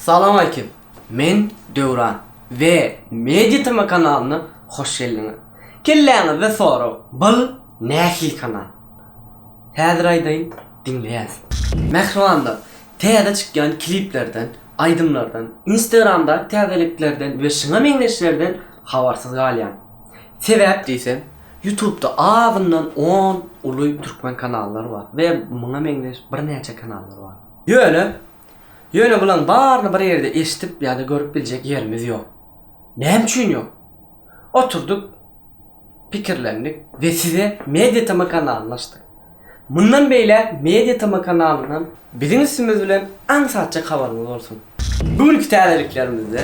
Salam aleýkim. Men Döwran we Media TV kanalyna hoş geldiňiz. Kelläňizde sorag, bul nähili kanal? Häzir aýdaýyn, diňleýäs. Mähribanlar, täze çykýan kliplerden, aýdymlardan, instagramdaky täzeliklerden we şuňa meňzeşlerden habarsyz galýan. Sebäp diýseň, Ýutubda azyndan on uly türkmen kanallary bar we muňa meňzeş birnäçe kanallar bar. Ýöne, ýöne bulaň baryny bir ýerde eşidip ýa-da görüp biljek ýerimiz ýok. Näme üçin ýok? Oturdyk, pikirlendik we size Media TM kanalyny açdyk. Mundan beýläk Media TM kanalyndan biziň üstümiz bilen aňsatjak habaryňyz bolsun. Bu günki täzeliklerimizde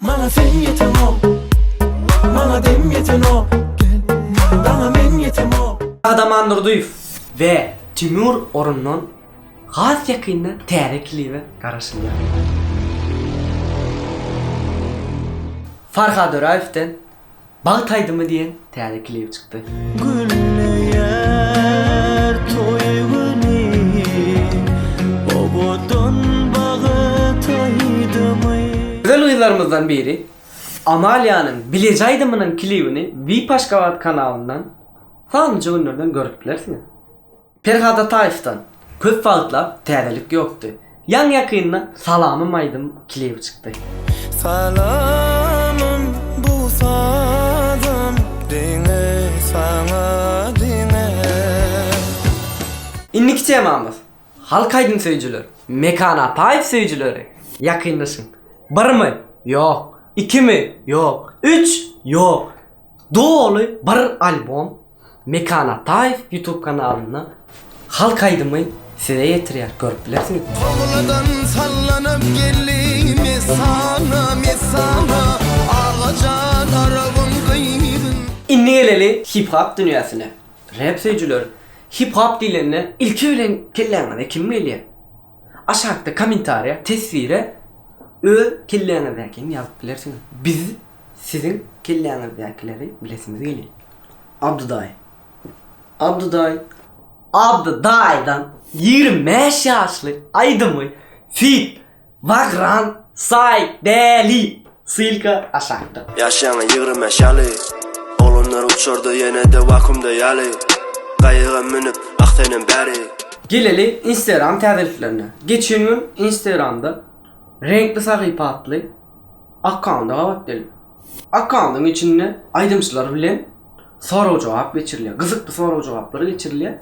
Maňa sen ýetenok, maňa dem ýetenok, daňa men ýetemok. Gahryman Durdyýew we Timur Orundan has ýakynda täze klibe garaşylýar. Farhad Öraýewden Bagt aýdymy diýen täze klibi çykdy. Gülleýär toý güni owadan bagt aýdymy. Gözel gyzlarymyzdan biri Amaliýanyň Bileje aýdymynyň klibini Vip Aşgabat kanalyndan sanlyja günlerden görüp bilersiňiz. Perhat Ataýewden köp wagtlap täzelik ýokdy. Ýaňy-ýakynda Salamym aýdym klibi çykdy. Salamym bu sazym diňe saňa diňe. Indiki temamyz, Halk aýdym söýüjiler, Mekan Ataýew söýüjileri, ýakynlaşyň! Birmi? Ýok. Ikimi? Ýok. Üç? Ýok. Doly bir albom Mekan Ataýew YouTube kanalynda Halk aýdymy size ýetirýär görüp bilersiňiz. Togladan sallanyp geldi Messana Messana Agajan Arabyň gyzyn. Indi geleli hip hop dünýäsine. Rap söýüjiler hip hop diýlende ilki bilen kelläňize kim gelýär? Aşakda kommentariýa teswire öz kelläňizdäkini ýazyp bilersiňiz. Biz. Siziň kelläňizdäkileri bilesimiz gelýär. Abdy daýy. Abdy daýy. Abdy daýydan ýigrimi bäş ýaşly aýdymy feat. Bagran Saýdäli. Ssylka aşakda. Ýaşaýaňa ýigrimi bäş ýaly. Oglanlar uçarda ýene-de wakuumda ýaly. Gaýyga münüp ah senem bäri. Geleli instagram täzeliklerine. Geçen gün instagramda Reňkli sahypa atly. Akkaunt gabat gelip, akkauntyň içinde aýdymçylar bilen sorag-jogap geçirilýär. Gyzykly sorag-jogaplar geçirilýär.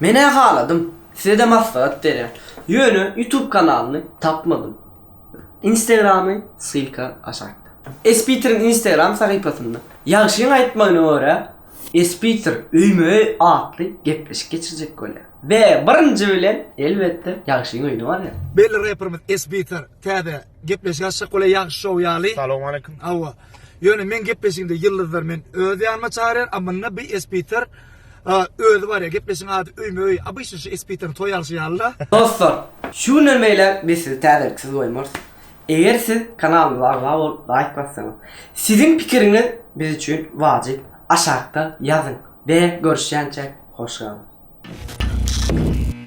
Men-ä haladym, size-de maslahat berýän. Ýöne YouTube kanalyny tapmadym. Instagramy ssylka aşakda. Espitiriň Instagram sahypasynda, Ýagşyň aýtmagyna görä, Espitir öýme-öý atly gepleşik geçirjek bolýar. We birinji bilen, elbetde, Ýagşyň öýüne barýar. Belli reperimiz Espitir täze Gepleşik açsak bolay ýagşy şow ýaly. Salowmaleýkim. Awa. Ýöne men gepleşiginde ýyldyzlar men öz ýanyma çagyrýar, a munda bi espiter özi barýar. Gepleşigiň ady öýme öý. Obyçny şu espiteriň toý alşy ýalyda. Dostlar, şu günden beýläk biz sizi täzeliksiz goýmarys. Eger siz kanalymyza agza bolup laýk bassaňyz. Siziň pikiriňiz biz üçin wajyp. Aşakda ýazyň. Be görüşýänçäk hoş galyň.